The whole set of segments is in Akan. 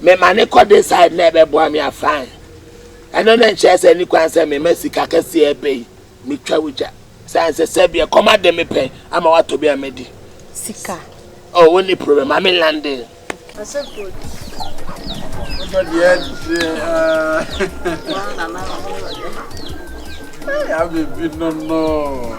Me ma ne kɔ de side na ɛbɛ boa me a fine ɛno ne nkyerɛ sɛ ni kwan sɛ me ma sika kɛseɛ ɛbɛ yi me twa wo gya sane sɛ sɛ bi ɛkɔm ade me pɛ ama watɔ bi a me di sika oh wo ni problem ma me lande ase good wotɔ deɛ deɛ aa yaa bɛ bi no no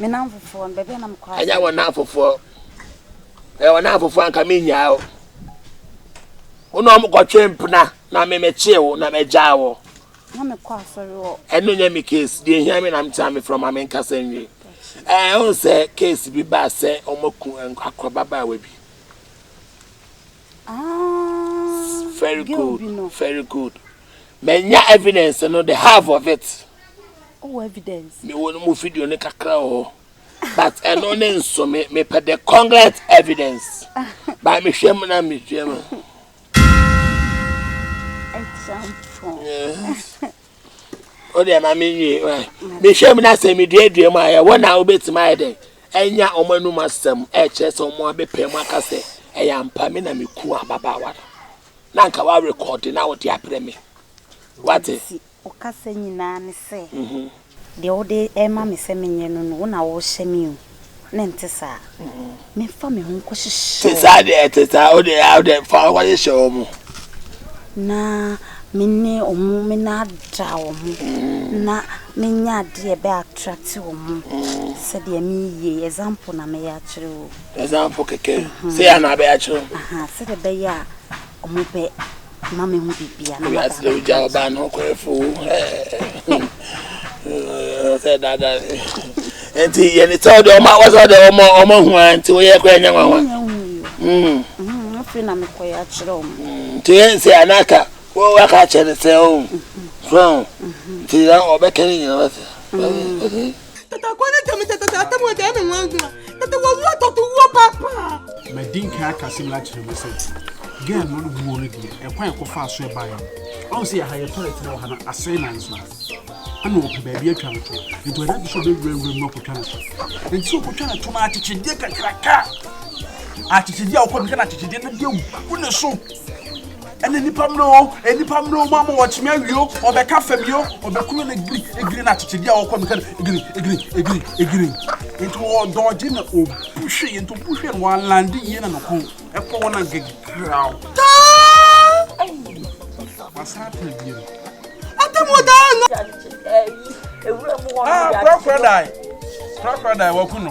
Me nnamfofoɔ no, baabi a na mekɔ asɛm. Ɛnyɛ wɔn nnamfofoɔ. Ɛyɛ wɔn nnamfofoɔ anka menyaa wo. Wo na wɔn kɔtwe mpena na me mekyee wo na magyaa wo. Na mekɔ asɔre wɔ. Ɛno nyɛ me case. Deɛ hia me na metena me frɔma me nkasa nwie. Ɛɛ ɔn sɛ case bi baa sɛ wɔn aku akɔ babaawa bi. Aah very girl good bi no. very good manya evidence no the half of it Oh evidence. me wɔ no mu video no kakra wɔ hɔ but ɛno ne nso me mepɛ the congruent evidence ba mehwɛ mu na mehwɛ mu Example. yes. Wodeɛ ma me nwie mehwɛ mu na sɛ meduadua mu a ɛyɛ wɔn a wobɛtumi ayɛ dɛ ɛnya wɔn anum asɛm ɛkyerɛ sɛ wɔn abɛpɛ mu aka sɛ ɛyɛ ampa me na meku ababaawa no na nka woarekɔde na wode abrɛ me wate ɔkasa nyinaa ne sɛ mhm. deɛ wode ɛma me sɛ menyɛ no no wo na wohyɛ me o na ɛnte saa. Memfa me ho nkɔhyehyɛ wɔn. Te saa deɛ, te saa, o deɛ, o deɛ, fa nkɔhyehyɛ wɔn. Na me ne wɔn, me na ada wɔn, na menya adeɛ ɛbɛ attract wɔn. Sɛdeɛ meyie, example na meyɛ akyerɛ o. Example kɛkɛ, sɛ yɛ na abɛyɛ akyerɛ o. Sɛdeɛ ɛbɛyɛ a wɔn bɛ. ma me ho bibia na ma daa me gya ɔbaa no kɔɛ fo sɛ dada nti yɛ ne sɛ ɔde ɔma wɔ sɛ ɔde ɔma ɔma hu a nti woyɛ kɔɛ nyɛ nwanwa afei na mekɔyɛ akyerɛ ɔmo nti yɛ sɛ anaka wɔ waka akyerɛ ne sɛ o so nti ɔbɛka ne nyina wɔ sɛ Tata kɔ ne tɛm tata tata tɛm wɔn tɛm mi wɔn adwuma tata wɔ wuo tɔtɔ wuo paapaa. Mɛ di nkan akasi mi akyerɛ mu sɛ gɛn no wuo no deɛ ɛkwan ɛkɔ fa aso ɛbaa yɛ no ɔn sɛ yɛ ha yɛ tɔlɛt na wɔ ha no asɛn nan so ɛna wɔpɛ baabi atwa no to nti wɔde ato so bɛ wura wura mu akɔtwa no to nti sɛ ɔkɔtwa no to no akyekyedeɛ kakraka akyekyedeɛ a wɔkɔ no kɛ no akyekyedeɛ no deɛ gu ne so Ɛne nnipa mmere oo, nnipa mmere oo, moama wɔkye me awie oo, wɔbɛka fam yi oo, wɔbɛkuru no giri, giri na akyekyedeɛ a wɔkɔ meka no giri, giri, giri, giri. Nti wɔdɔɔgye na obu hwee, nti obu hwee no wɔalande yie na ne kɔn ɛkɔ hɔ na gegraw taa! Wasan atena bie no. Atamu daa no! Ah, korakora dae, korakora dae, waku no.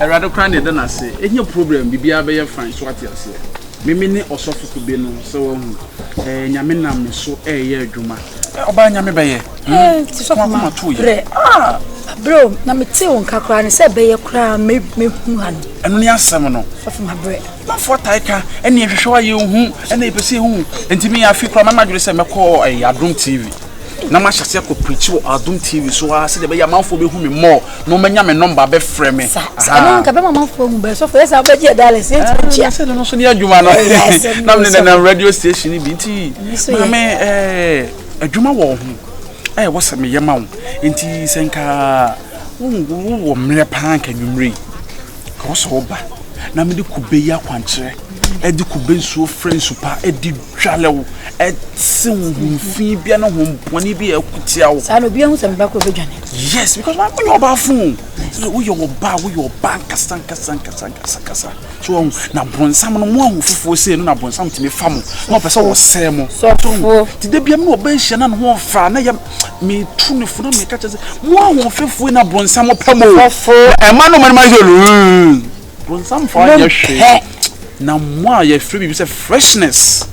awurade kora na ɛda no ase ɛnyɛ problem biribiara bɛyɛ fine so ate aseɛ meme ne ɔsɔfo kube no sɛ wahu nyame nam me so ɛreyɛ adwuma Ɔbaa nyame bɛyɛ. Sɔfo ma brɛ. Abrɛ o na mete wo nka koraa ne sɛ bɛyɛ koraa mɛhu ha no. Ɛno ne asɛm no. Sɔfo ma brɛ. Manfoɔ atae ka ɛne ɛhwehwɛ wa yɛ hu ɛne ɛpɛ sɛ ɛhu. Ɛnti me afi koraa mama adwene sɛ mɛkɔ ɛyɛ Adom TV. Na mahyɛ aseɛ kɔ preach wɔ Adom TV so a sɛdeɛ ɛbɛyɛ amanfoɔ bɛhu me more. mo mɛ nya me nɔmba bɛ frɛ me. Sa sa ɛno nka bɛma manfo ahu bɛ sɔfo yɛ sa wobɛgye yɛ dollars yɛ ntumi nkyia. Ɛsɛ no no so ne adwuma no. Na me ne nenam radio station bi nti maame ɛɛ adwuma wɔ ho ɛɛ wɔ sɛ meyɛ ma wo nti sɛ nka wowɔ mmerɛ paa nka nwummerɛ yi ka wɔ sɛ woba na mede kube yi akwankyerɛ ɛde kube nsuo frɛ nsupa ɛde tware wo, ɛte wo ho fi bia ne ho bɔne bi a ɛko tia wo. saa na obi ahu sɛ meba koro bɛdwane. yes because maa woyɛ ɔbaa fon sɛ woyɛ ɔbaa woyɛ ɔbaa nkasa nkasa nkasa nkasa nkasa so wɔn na bɔnsam no mo ahu fufuo sei no na bɔnsam tumi fa mo na ɔpɛ sɛ wɔsɛɛ mo so ti da biam na ɔbɛ nhyia na ne ho ɔfa na yɛ metu ne funu meka kyɛ sɛ mo ahu fufuo na bɔnsam pɛ mo ɛma no ma no ma yɛ Bronsam faa nyɛ hwee. Na mo a yɛfrɛ biribi sɛ freshness.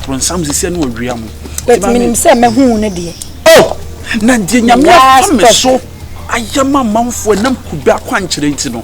Bronsam sisi ne ɔwia mo. Bɛti menim sɛ mɛhu no deɛ. Oh! Na deɛ nyame afa me so ayɛ ma amanfoɔ ɛnam kube akwankyerɛ nti no.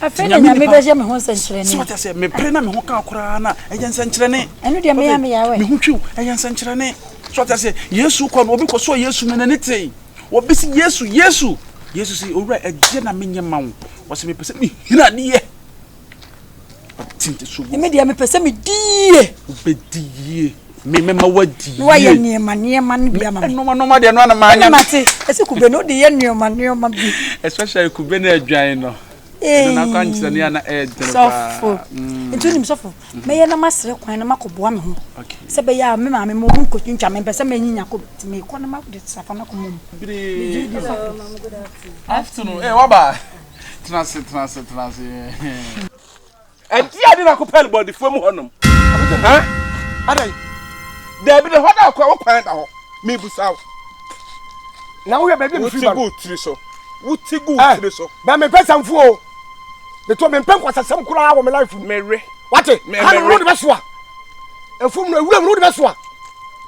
Afei na Nyame bɛyɛ me ho nsɛnkyerɛnne. Sɛ ɔkyɛ sɛ mepere na me ho ka koraa na ɛyɛ nsɛnkyerɛnne. Ɛno deɛ meyɛ me yawe. Me ho twiw ɛyɛ nsɛnkyerɛnne. Sɛ ɔkyɛ sɛ Yesu kɔ no obi kɔ so Yesu na n'ani tee. Obi si Yesu Yesu. Yesu si owura ɛdeɛ na menyɛ ma wo. Ɔsɛ mepɛ sɛ mehina adeɛ. Ɔte nte so. Me deɛ mepɛ sɛ medi yie. Wobɛdi yie. Me mɛma wadi yie. Na wayɛ nneɛma nneɛma no bi ama me. Nneɛma nneɛma deɛ no ana maa nya. Mate ɛsɛ kube no de yɛ nneɛma nneɛma bi. Especially kube no adwan no. Ɛno na akɔ ankyerɛ ne ana ɛɛdene paa. Sɔfo. Mm. Nti onim sɔfo. Mm-hmm. Mɛyɛ na masrɛ kwan na makɔboa me ho. Okay. Sɛ bɛyɛ a me maame mo mu nkotwintwa me mpɛ sɛ menyinya kɔ ti me kɔ na ma de safa na kɔmɔ mu. Bire. Afternoon. Eh waba. Tenase tenase tenase. ɛnti ade na kopɛl bɔdifoɔ mu hɔnom ha adɛn daabi na hɔ da akɔ wo kwan da hɔ mebusa wo na woyɛ baabi mfiri ba wotigu tiri so wotigu eh, tiri so bɛ mempɛ sɛmfo o meto mempɛ nkwasasɛm koraa wɔ me life mu mewe wate ha no wode bɛsoa ɛfom no awura mu no wode bɛsoa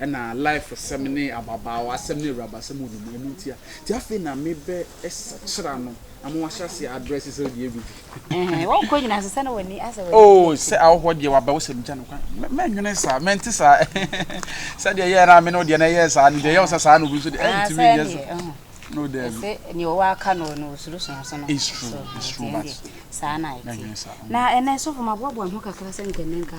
Ɛna life sɛm ne ababaawa sɛm ne awuraba sɛm wɔ ne mu ɛno ntia nti afei na me bɛ sakyera no ama wahyɛ aseɛ adrɛse sɛ ɔdeɛ gu bi. Ɛhɛn wɔn kɔ nyina sesa na wɔn ani asɛ wɔn ani. Oh sɛ ahohoɔ deɛ waba wo sɛm gya no kwan mɛ mɛ nwene saa mɛ nte saa sɛdeɛ ɛyɛɛ na me ne wo deɛ na ɛyɛɛ saa no deɛ ɛyɛ wo sɛ saa na obi nso deɛ ɛyɛ ntumi nyɛ saa no daabi. Ɛsɛ nea ɔwɔ aka no no osuro sua so no. It's true it's true but saa na ɛte na ɛnɛ sɔfo ma boaboa me ho kakra sɛ nkɛnɛ nka.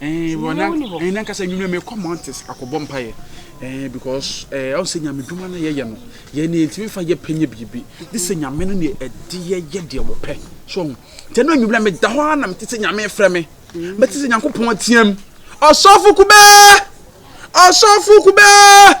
Eh, well, na, eh, na nkasa nwumire me kɔ mountains akɔbɔ mpaeɛ. Eh, because eh, ɔn sɛ nyame dwuma na yɛyɛ no, yɛn ne yɛntumi fa yɛ pɛ nyɛ biribi. De sɛ nyame no ne ɛde yɛyɛ deɛ wɔpɛ. So ɔn, tɛ no nwumire meda hɔ ara na mete sɛ nyame frɛ me. Mɛte sɛ Nyankopɔn ateam. Ɔsɔfo kubɛɛ! Ɔsɔfo kubɛɛ!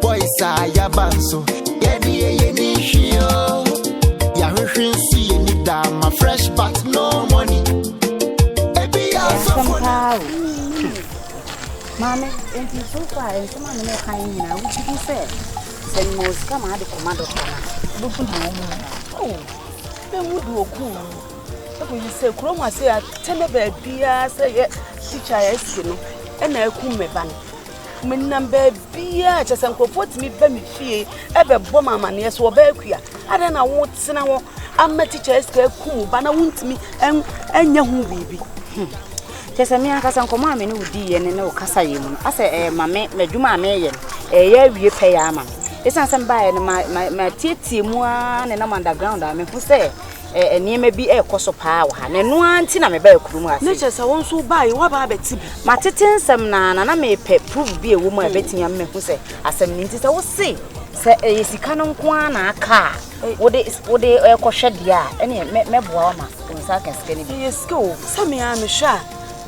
Boys a yaba nso, yɛde yɛyɛ ne nhwi o. Yɛahwehwe nso yɛ ni daa ma fresh but no money. Ebi yɛ asɔfo na. Maame, nti so far nsɛm a mene kan nyinaa wogye di sɛ sɛ mema wo sika ma ade kɔma dɔkta no a wobɛku na wɔn mu oh, sɛ mu de ɔku ɛkɔyi sɛ kurom ase a tɛnɛ baabiaa sɛ yɛ tikya yɛ ase no ɛna akum me ba no menam baabiaa kyɛ sɛ nkurɔfoɔ tumi ba me fie ɛbɛbɔ ma amanneɛ so ɔbaa akua adɛn na wotena hɔ ama tikya sika aku wo ba na wontumi ɛnyɛ ho biribi hmm. kyɛ sɛ me ankasa nkɔmmɔ a me ne wo diiɛ ne ne wo kasa yɛ mu no asɛ ɛyɛ ma me m'adwuma a meyɛ no ɛyɛ awie pɛ yɛ ama me ɛsiane sɛ mebaeɛ no matietie mu a ne nam underground a mehu sɛ eh, nneɛma bi ɛrekɔ so paa wɔ ha na ɛno ara nti na mebaa kurom ha na kyerɛ sɛ wo nso wobaa yi woaba abɛte bi matete nsɛm na na na mepɛ proof bi ɛwɔ mu a ɛbɛtumi ama mahu sɛ asɛm no nti sɛ wo se sɛ ɛyɛ sika no nko ara na aka a wode wode ɛkɔhwɛ deɛ a ɛne mɛboa wo ma wo nsa aka sika no bi ɛyɛ sika o sɛ me a mehwɛ a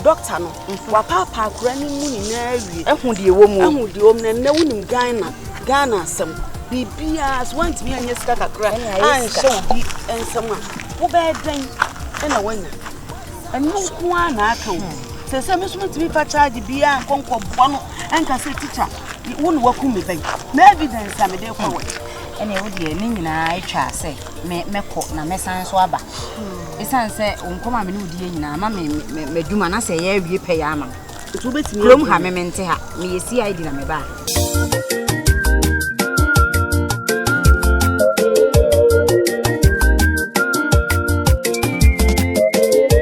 dɔkta no mhm. wapaapaa akora no mu nyinaa awie ɛho deɛ wɔ mu ɛho deɛ wɔ mu na nnɛ wonim ghana ghana asɛm biribiara so woantumi anyɛ sika kakra anhyɛ obi nsɛm a wobɛyɛ dɛn ɛna woanya ɛno nko ara na aka wo sɛ sɛ me so metumi fa charge biara nkɔnkɔboa no ɛnka sɛ tikya wo ne waku me bɛn na evidence a mede kɔ wɔ ɛne wo deɛ ne nyinaa atwa sɛ me mɛkɔ na mɛsan nso aba ɛsiane sɛ wo nkɔm a me ne wodiɛ nyinaa ma madwuma na sɛ ɛyɛ awie pɛyɛ ama kurom ha me mente ha meyɛ cid na mebaa